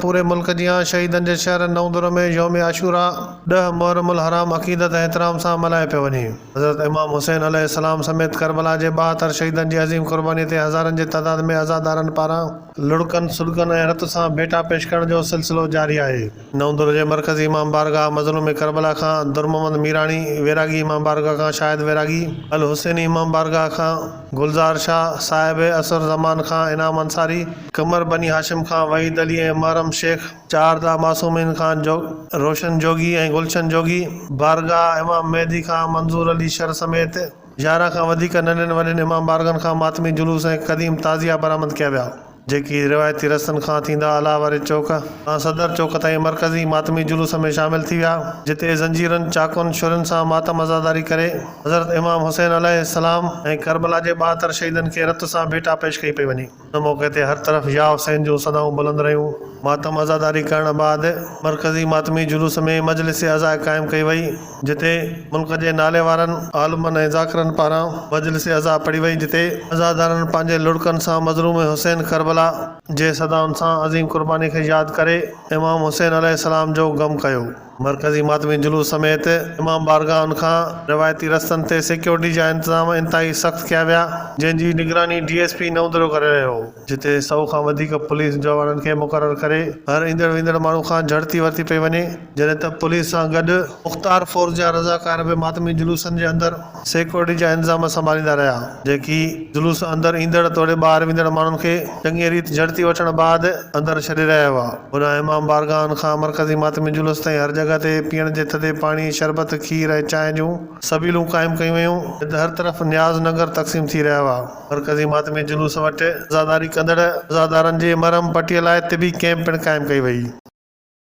پوري ملڪ جيان شهيدن جي شهر نئوندره ۾ يوم عاشوراء ڏهه محرم الحرام عقيدت ۽ احترام سان ملهايو پيو وڃي. حضرت امام حسين عليه السلام سميت ڪربلا جي ٻاهتر شهيدن جي عظيم قرباني تي هزارن جي تعداد ۾ عزادارن پاران لڙڪن سڏڪن ۽ رت سان ڀيٽا پيش ڪرڻ جو سلسلو جاري آهي. نئون در جي مرڪزي امام بارگاهه مظلوم ڪربلا کان درمحمد ميراڻي ويراڳي امام بارگاهه کان شاهد ويراڳي الحسيني امام بارگاهه کان گلزار شاهه صاحب عصر زمان کان انعام انصاري قمر بني هاشم کان وحيد علي ۽ محرم شيخ چار داء معصومين کان روشن جوڳي ۽ گلشن جوڳي بارگاهه امام مهدي کان منظور علي شر سميت يارهن کان وڌيڪ ننڍين وڏين امام بارگاهن کان ماتمي جلوس ۽ قديم تعزيا برآمد ڪيا ويا. جيڪي روايتي رستن کان ٿيندا الاء واري چوڪ کان صدر چوڪ تائين مرڪزي ماتمي جلوس ۾ شامل ٿي ويا، جتي زنجيرن، چاقون، ڇرين سان ماتم عزاداري ڪري حضرت امام حسين عليه السلام ۽ ڪربلا جي ٻاهتر شهيدن کي رت سان ڀيٽا پيش ڪئي پئي وڃي. ان موقعي تي هر طرف يا حسين جون صدائون بلند رهيون. ماتم عزاداري ڪرڻ بعد مرڪزي ماتمي جلوس ۾ مجلس عزاء قائم ڪئي وئي. جتي ملڪ جي ناليوارن عالمن ۽ ذاڪرن پاران مجلس عزا پڙهي وئي جتي عزادارن پنهنجي لڙڪن سان مظلوم حسين ڪربلا جي صدائن سان عظيم قرباني کي ياد ڪري امام حسين عليه السلام جو غم ڪيو. مرڪزي ماتمي جلوس سميت امام بارگاهن کان روايتي رستن تي سيڪيورٽي جا انتظام انتهائي سخت ڪيا ويا جنهن جي نگراني ڊي ايس پي نئوندرو ڪري رهيو هو جتي سئو کان وڌيڪ پوليس جوانن کي مقرر ڪري هر ايندڙ ويندڙ ماڻهو کان جهڙتي ورتي پئي وڃي. جڏهن ته پوليس سان گڏ مختار فورس جا رضاڪار به ماتمي جلوسن جي اندر سيڪيورٽي جا انتظام سنڀاليندا رهيا جيڪي جلوس اندر ايندڙ توڙي ٻاهر ويندڙ ماڻهن کي چڱيء ريت جهڙتي وٺڻ بعد اندر ڇڏي رهيا هئا هن امام بارگاهن کان مرڪزي ماتمي جلوس تائين هر جڳهه تي پيئڻ جي ٿڌي پاڻي شربت کير ۽ چانهه جون سبيلون قائم ڪيون ويون جڏهن ته هر طرف نياز ننگر تقسيم ٿي رهيا هئا مرڪزي ماتمي جلوس وٽ عزاداري ڪندڙ عزادارن جي مرهم پٽيء لاء طبي ڪئمپ پڻ قائم ڪئي وئي.